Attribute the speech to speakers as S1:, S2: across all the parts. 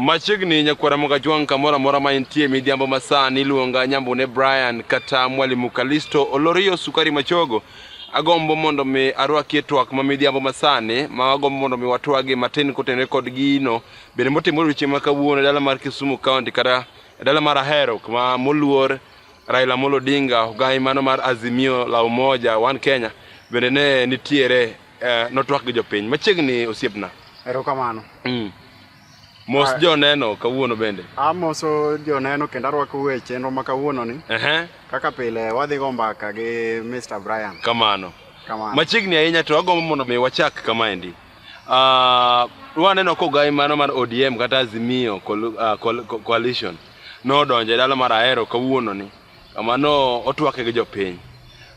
S1: Machiegni nyakwara Mogajwang' kamoro amora ma intie midhiambo masani iluonga Nyambune Brian kata Mwalimu Kalisto Olorio Sukari Machogo. Agombo mondo mi arwaki e twak ma midhiambo masani ma agombo mondo mi watwagi matin kotenore kod gino bende motimore odiochieng' ma kawuono e dala mar Kisumu County kata e dala mar Ahero kuma moluor Raila Amolo Odinga ogai mano mar Azimio la Umoja One Kenya bende ne nitiere eh, notwak gi jopiny machiegni osiepna erokamano
S2: mm.
S1: mos ah. joneno kawuono bende amoso
S2: joneno kendo arwako we chenro ma kawuono ni uh -huh. kaka pile wadhi go mbaka gi mr brian kamano kamano
S1: machiegni ahinya to agombo mondo mi wachak kamaendi uh, waneno kogai mano mar odm kata azimio ah, coalition nodonjo e dala mar ahero kawuono ni Kamano otwake gi jopiny.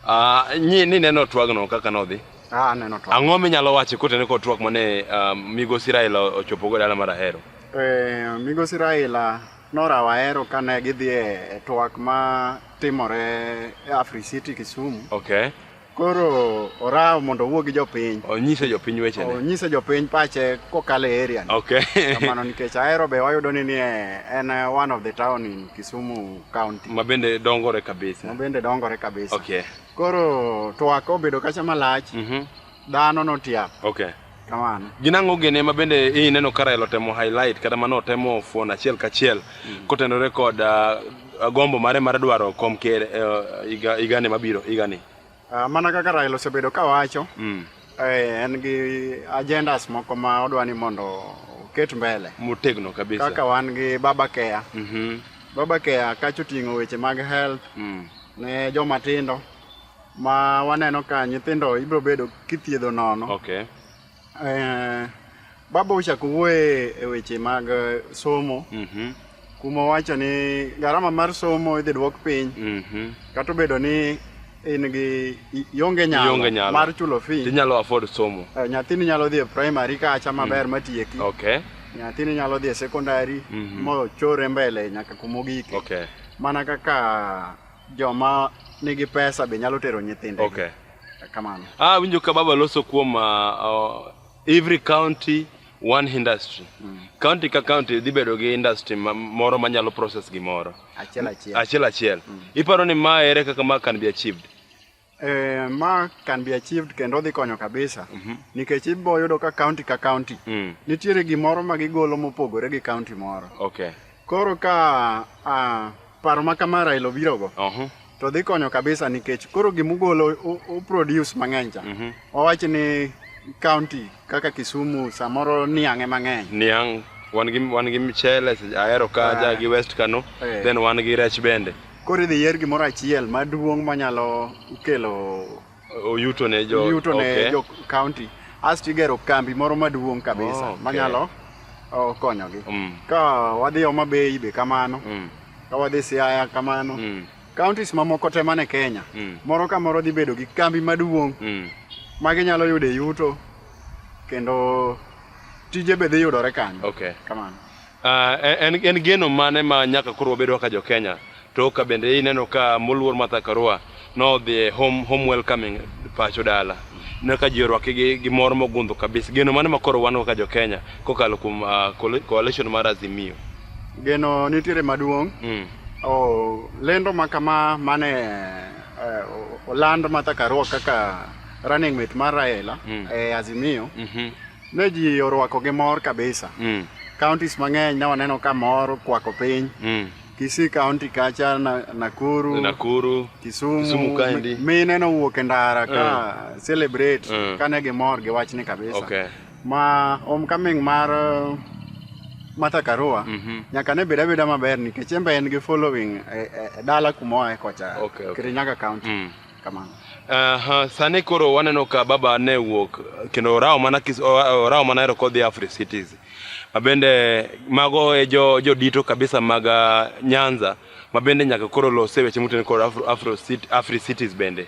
S1: Ah, nyi ni neno twagno kaka nodhi. Ah, neno twak. Ang'o
S2: minyalo wacho kotene
S1: kod twak mane ah, migosi Raila ochopogo dala mar Ahero? Eh, migosi
S2: Raila norawo Ahero kane gidhi e e twak ma timore e Afri City Kisumu. Okay.
S1: Koro
S2: orawo mondo owuo gi jopiny. Onyise jopiny weche
S1: ne. Onyise jopiny pache
S2: kokalo e area ni. Okay. Kamano
S1: nikech ahero
S2: be wayudo ni nie en eh, one of the town in Kisumu County. Ma bende dongore
S1: kabisa. Ma bende dongore kabisa. Okay. Koro
S2: twak obedo kacha malach. Mhm. Mm dhano notiap. Okay. Kamano.
S1: Gin
S2: ang'o gene ma
S1: bende ineno ka Raila otemo highlight kata mano otemo fuon achiel kachiel mm. kotenore kod uh, gombo mare mar dwaro kom ker uh, higa uh, igani mabiro igani? Uh, ah, mana kaka
S2: Raila osebedo ka wacho mm. eh, en gi agendas moko ma odwa ni mondo oket mbele motegno kabisa kaka
S1: wan gi Baba
S2: Care mm -hmm. Baba Care kacho ting'o weche mag health mm. ne joma tindo ma waneno ka nyithindo ibiro bedo kithiedho nono. Okay.
S1: Eh,
S2: baba ochako wuoye e weche mag eh, somo Mhm. kuma owacho ni gharama mar somo idhi dwok piny Mhm. kata obedo ni in gi i- ionge Ionge nyalo nyalo. mar chulo fee Tinyalo afford somo.
S1: Eh, nyathini nyalo dhi e
S2: primary kacha maber matieki Okay. nyathini
S1: nyalo dhi
S2: e secondary Mhm. mochore mbele nyaka kumogike Okay. mana
S1: kaka
S2: Joma nigi pesa be nyalo tero nyithindegi. Okay.
S1: Kamano. Ah,
S2: winjo ka baba
S1: loso kuom ah, ah, every county one industry. County ka county dhi bedo gi industry ma- moro manyalo process gimoro. Achiel achiel. Achiel achiel. Iparo ni ma ere kaka ma can be achieved? Eh, ma
S2: can be achieved kendo odhi konyo kabisa nikech ibo yudo ka county ka county Mm. nitiere gimoro ma gigolo mopogore gi county moro Okay. koro
S1: ka
S2: ah, paro ma kama Raila obirogo Uh-huh. to dhi konyo kabisa nikech koro gimugolo u- u produce mang'eny cha Wawach ni kaunti kaka Kisumu samoro niang' ema ng'eny. Niang' wan
S1: gi wan gi mchele se- ahero kaja Ah. gi West Kano Eh. then wan gi rech bende. Koro idhi yier gimoro
S2: achiel maduong' manyalo kelo Oyuto
S1: ne jo yuto ne okay. jo kaunti.
S2: Asto igero kambi moro maduong' kabisa Oh, okay. manyalo oh, konyogi. Mm. Ka wadhi Homa Bay be kamano, Mm. ka wadhi Siaya kamano. Mm. Counties mamoko te man e Kenya, Mm. moro ka moro dhi bedo gi kambi maduong' Mm. ma ginyalo yude yuto kendo tije be dhi yudore kanyo. Okay. Kamano.
S1: Ah,
S2: en,
S1: en geno mane ma nyaka koro wabedo kaka jo Kenya to ka bende ineno ka moluor Martha Karua nodhi e home, home welcoming pacho dala ne ka ji orwake gi, gi mor mogundho kabisa geno mane ma koro wan kaka jo Kenya kokalo kuom ah, coali- coalition mar Azimio Geno
S2: nitiere maduong' mm. Oh, lendo ma kama mane eh, o- oland Martha Karua kaka running mate mar Raila Mm. e Azimio Mhm. ne ji orwako gi mor kabisa. Mm. Counties mang'eny ne waneno ka mor kwako piny. Mm. Kisii County kacha na, Nakuru, Nakuru. Kisumu, Kisumu kaendi. mi- mine nowuok e ndara ka celebrate Mm. kane gimor gi wachni kabisa. Okay. ma homecoming mar uh, Martha Karua Mhm. nyaka ne bed abeda maber nikech en be en gi following e, e, e dala kuma oae kocha Okay, okay. Kirinyaga County Mm. kamano Aha, sani koro
S1: waneno ka baba ne wuok kendo orawo mana kis, o- orawo mana ero kodhi Afri cities. Mabende mago e jo, jo dito kabisa mag ah, Nyanza. ma bende nyaka koro lose weche motenore kod Afro, Afro Cit- Afri Cities bende.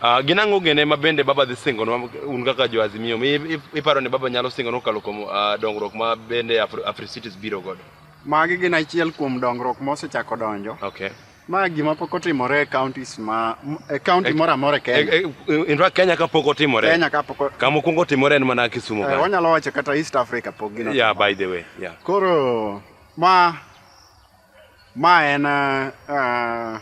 S1: Uh, gin ang'o gene ma bende Baba dhi singonwa un kaka jo Azimio? Mi- i- Iparo ni Baba nyalo singonwa kokalo kuom uh, dongruok ma bende Afro, Afri Cities
S2: biro
S1: godo? Magi
S2: gin achiel
S1: kuom
S2: dongruok
S1: mosechako
S2: donjo.
S1: Okay.
S2: Ma gima pok otimore e counties ma e county E- moro amora e Kenya. E- e- In fact, Kenya kapok
S1: otimore. Kenya kapok o- Kama
S2: okuongo otimore en mana
S1: Kisumu. eh, kanyo. wanyalo wacho kata East
S2: Africa pok gino. Yeah, by the way. Yeah.
S1: Koro
S2: ma Ma en uh,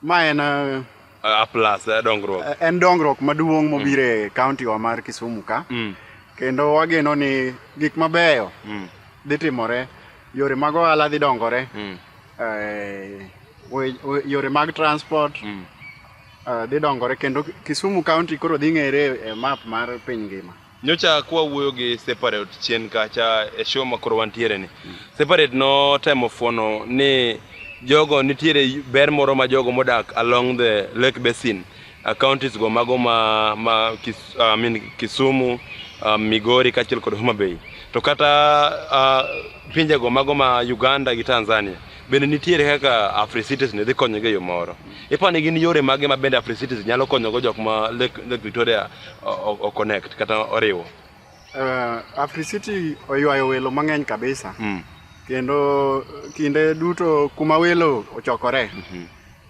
S1: ma en uh, A plus eh, dongruok. en dongruok maduong'
S2: mobiro e kaunti wa mar Kisumu ka Mm. kendo wageno ni gik mabeyo Mm. dhi timore, yore mag ohala dhi dongore, Mm. eh, we- we- yore mag transport Mm. eh, dhi dongore kendo Kisumu kaunti koro dhi ng'ere e map mar piny ngima. Nyocha kwawuoyo
S1: gi Separate chien kacha e show ma koro wantiere ni. Separate notemo fuono ni jogo nitiere ber moro ma jogo modak along the Lake Basin uh, counties go mago ma, ma kis, uh, I mean, Kisumu, uh, Migori kaachiel kod Homa Bay. To kata uh, pinjego mago ma Uganda gi Tanzania bende nitiere kaka Africities ne dhi konyogi e yo moro. Ipani gin yore mage ma bende Africities nyalo konyogo jok ma Lake, Lake Victoria o connect kata oriwo uh, Africity
S2: oywayo welo mang'eny kabisa mm. kendo kinde duto kuma welo ochokore mm -hmm.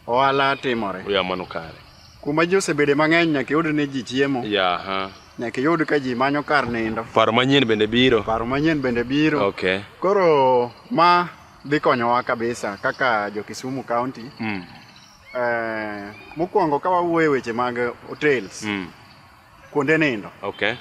S2: ohala timore ya mano kare
S1: kuma ji osebede
S2: mang'eny nyaka yud ni ji chiemo yeah, huh. nyaka yud ka ji manyo kar nindo paro manyien bende
S1: biro paro manyien bende biro
S2: okay. koro ma dhi konyowa kabisa kaka jo Kisumu County mm. Eh, mokwongo ka wawuoye weche mag hotels mm. kuonde nindo okay.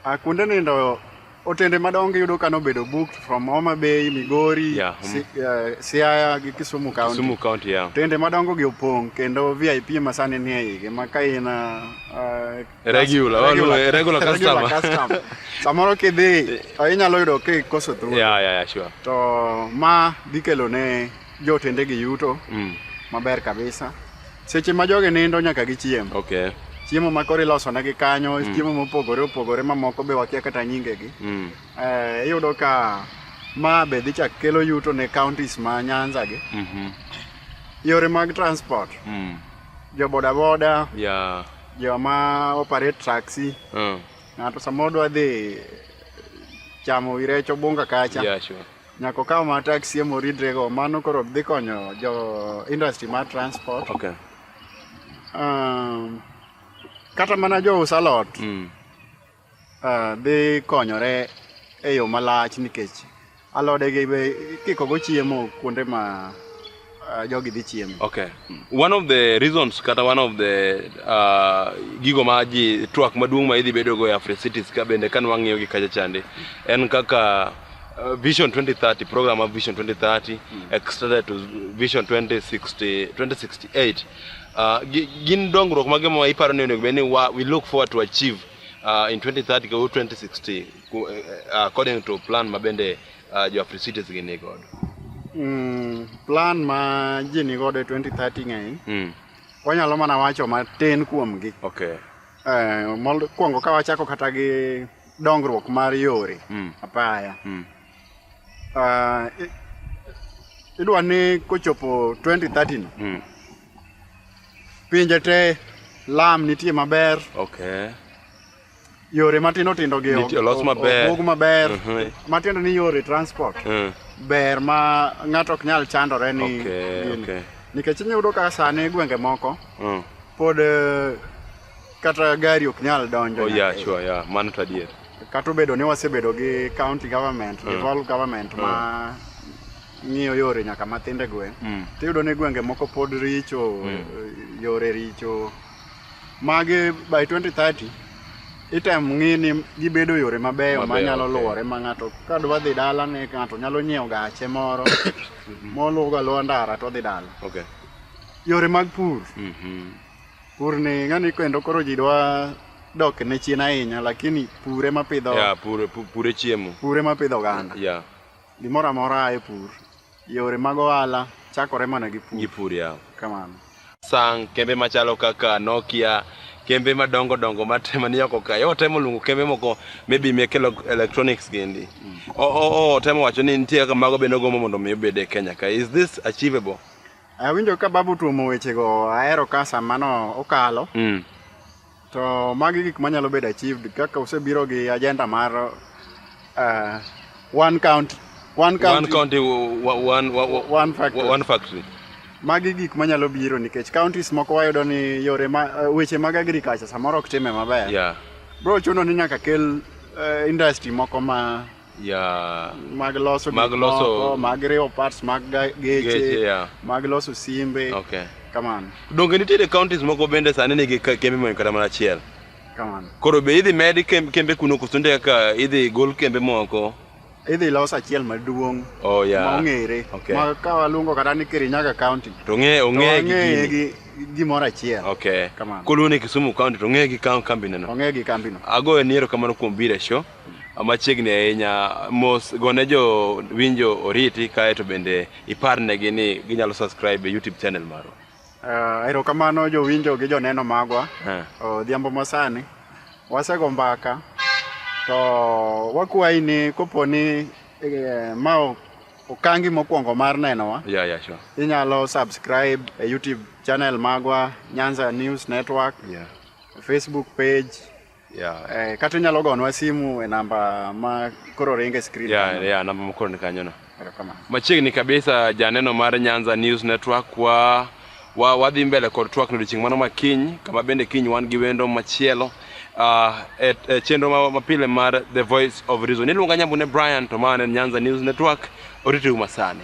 S1: uh, kuonde
S2: nindo otende madongo yudo ka nobedo booked from Homa Bay, Migori, yeah. si, uh, Siaya gi Kisumu County. Kisumu County yeah. Otende
S1: madongo gi opong'
S2: kendo VIP ma sani ni e igi ma ka in uh, regular, regular,
S1: well, regular customer. customer. Samoro kidhi
S2: to inyalo yudo kikoso thuolo. Yeah, yeah, yeah, sure. To
S1: ma
S2: dhi kelo ne Jotende gi yuto mm. maber kabisa. Seche ma jogi nindo nyaka gichiem. Okay. Chiemo ma
S1: koro iloso
S2: negi kanyo, mm. chiemo mopogore opogore mamoko be wakia kata nyingegi. Mm. Eh, iyudo ka ma be dhi chak kelo yuto ne counties ma Nyanza gi. Mm -hmm. Yore mag transport. Mm. Jo bodaboda. Yeah. Jo ma operate taxi. Mm. Ng'ato samoro dwa dhi chamo irecho bunga kacha. Yeah, sure. Nyako
S1: kaw ma
S2: taxi emo ridre go mano koro dhi konyo jo industry mar transport. Okay.
S1: Um,
S2: kata mana jo usa lot mm. uh, dhi konyore e yo malach nikech alode gi be kiko go chiemo kuonde ma uh, jogi dhi chiemo. Okay. One of
S1: the reasons kata one of the uh, gigo ma ji twak maduong' ma idhi bedo go e Afri Cities ka bende kan wang'iyo gi kacha chande en kaka uh, Vision 2030 program of Vision 2030 extended to Vision 2060 2068 uh, gi- gin dongruok mage ma iparo ni onego bed ni wa- we look forward to achieve uh, in 2030 go 2060 ku- eh, eh, according to plan ma bende uh, jo Africites gi ni godo? Mm,
S2: plan ma ji ni godo e 2030 ng'eny. Mm. Wanyalo mana wacho matin kuomgi. Okay. Eh,
S1: mokwongo
S2: ka wachako kata gi dongruok mar yore mm. apaya. Mm. Uh, idwa ni kochopo 2030 no. Mm. Pinje te lam nitie maber. Okay. yore matindo tindo gi Niti- olos maber. obug
S1: maber Mhm.
S2: matindo ni yore transport Mm. ber ma ng'ato ok nyal chandore ni Okay, gini. okay.
S1: nikech inyudo ka
S2: sani gwenge moko Mm. pod eh, kata gari ok nyal donjo Oh, nyaka yeah, e- sure, yeah. Mano to
S1: adier. kata obedo ni
S2: wasebedo gi county government Mm. devolved government ma ng'iyo yore nyaka matinde gweng Mm. tiyudo ni gwenge moko pod richo Mm. eh, yore richo Magi by 2030 item ng'i ni gibedo yore mabeyo Mabeyo, manyalo okay. luwore ma ng'ato ka dwa dhi dala ne ng'ato nyalo nyiewo gache moro moluwo ga luwo ndara to dhi dala. Okay.
S1: Yore mag
S2: pur, Mhm. pur ni ng'ani kendo koro ji dwa dok ne chien ahinya lakini pure mapidho Yeah, pure pu- pure chiemo.
S1: pure mapidho oganda.
S2: Yeah. Gimoro amora a e pur. Yore mag ohala chakore mana gi pur. Gi pur yaw.
S1: Kamano.
S2: Sang
S1: kembe machalo kaka Nokia, kembe madongo dongo matema ni oko kae. Otemo luongo kembe moko maybe mek elok- electronics gindi. O- o- o- Otemo wacho ni nitie kaka mago bende ogombo mondo mi obed e Kenya ka. Is this achievable? Awinjo ka
S2: babu tuomo wechego ahero ka samano okalo. Mm. To magi gik manyalo bedo achieved kaka usebiro gi agenda mar uh, one county one county one county one one factory one factory magi gik manyalo biro nikech counties moko wayudo ni yore ma, uh, weche mag agriculture samoro ok time maber yeah. bro chuno ni nyaka kel uh, industry moko ma yeah. mag loso mag loso mag riwo parts mag geche yeah. mag loso simbe okay. kamano donge nitiere
S1: counties moko bende sani nigi kembe moyo kata mana achiel kamano koro
S2: be idhi med
S1: kembe kuno koso nde kaka idhi gol kembe moko idhi los
S2: achiel maduong' oh, yeah. mong'ere okay. ma ka waluongo kata ni kirinyaga county to ong'e ong'e
S1: gi
S2: gimoro achiel okay. kamano koluwo ni
S1: kisumu county to ong'e gi kambineno ong'e gi kambino agoyo
S2: niero kamano kuom
S1: biro e show machiegni ahinya mos gone jo winjo oriti kae to bende iparnegi ni ginyalo subscribe e youtube channel marwa uh, erokamano
S2: jowinjo gi joneno magwa Eh. odhiambo masani wasego mbaka to wakwayi ni kopo ni eh, ma o- okangi mokwongo mar nenowa ya ya sure inyalo subscribe e youtube channel magwa nyanza news network yeah. facebook page Yeah. Eh, kata inyalo gonwa simu e namba ma koro ringe e screen. Yeah, kanyo. yeah, namba ma koro ni
S1: kanyo no. Machiegni kabisa janeno mar Nyanza News Network wa wa wadhi mbele kod twak odiechieng' mano ma kiny kama bende kiny wan gi wendo machielo uh, e, e chenro ma, ma pile mar The Voice of Reason. Iluonga Nyambune Brian to ma en Nyanza News Network oritiru masani.